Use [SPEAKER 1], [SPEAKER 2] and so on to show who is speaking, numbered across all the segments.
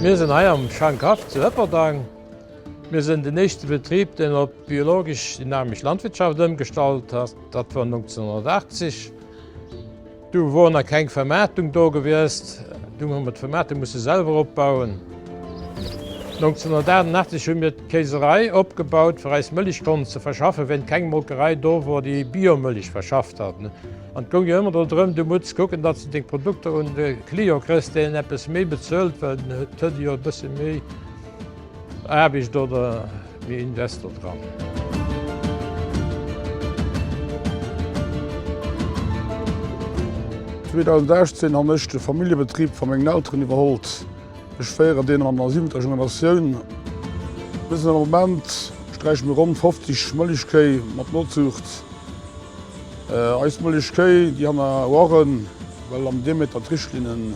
[SPEAKER 1] Mir sinn hei am Schankhaff zu Ëpperdaang. Mir sinn den éischte Betrib, deen op biologesch-dynamesch Landwirtschaft ëmgestallt ass. Dat war 1980. Du wor nach keng Vermaartung do gewiescht, dunn hu mer d'Vermaartung musse selwer opbauen. 1988 hu mir d'Kéiserei opgebaut fir eis Mëlich konnt ze verschaffen, wéint keng Molkerei do wor déi Biomëlich verschafft hat. An et goung jo ëmmer do drëm, du mutts kucken datt s de deng Produkter un de Client krëss deen eppes méi bezuelt, well den huet jo e bësse méi Aarbicht oder. Mee Investor dran.
[SPEAKER 2] An 2018 han ech de Familljebetrieb van mengen Elteren iwerhollt. Ech féieren deen an der siwenter Generatioun. Bis den Moment streichen mir ronn 50 Mëllechkéi mat Notzucht. Eis Mëllechkéi déi han a Oiren well am Diameter d'Richtlinnen.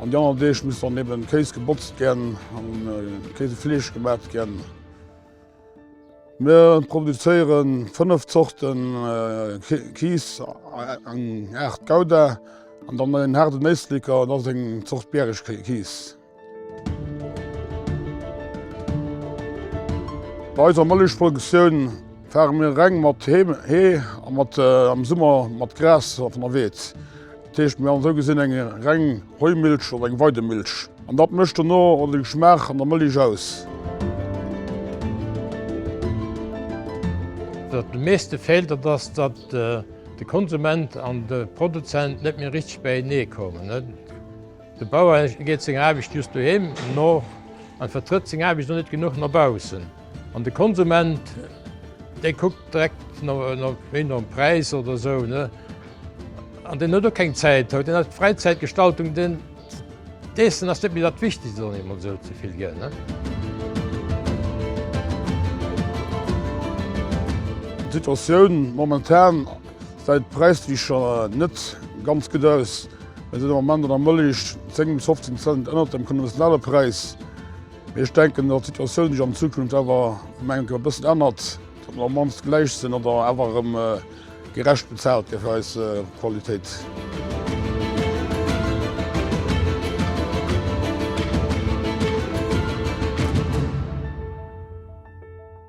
[SPEAKER 2] An déi aner Deeg muss dann eben Kéis gebotzt ginn an Kéisefleesch gemaat ginn. Mir produzéieren 5 Zorten Kiis, eng Art Gouda an dann en haarden Éisleker, dat ass eng Zort Bäregkiis. Bei eiser Mëllechproduktioun faare mir reng mat Hee a am Summer mat Gras vun der Weed. Dat heescht, mir hu sou gesinn eng reng Heumilch oder eng Weidemilch. An dat mécht dann och de Geschmaach an der Mëlich aus.
[SPEAKER 1] Wat de meeschte feelt, dat ass, datt de Konsument an de Produzent net méi richteg bäienee kommen. De Bauer geet senger Aarbecht just doheem no an vertrëtt seng Aarbecht och net genuch no baussen. An de Konsument, dee kuckt direkt méi nom Präis oder esou, ne? An deen huet och keng Zäit haut, deen hat Fräizäitgestaltung, deen, d'Iessen ass net méi dat Wichtegst, soen emol esou ze vill gär, ne?
[SPEAKER 2] D'Situatioun momentan. Säit d'Präislicher net ganz gutt aus. Mir sinn am Moment an der Mëllech 10 bis 15 Cent ënnert dem konventionelle Präis. Mee ech denken, datt d'Situatioun sech an Zukunft awer mengen ech e bëssen ännert, datt mer op mannst gläich sinn oder awer erëm gerecht bezaalt gi fir eis Qualitéit.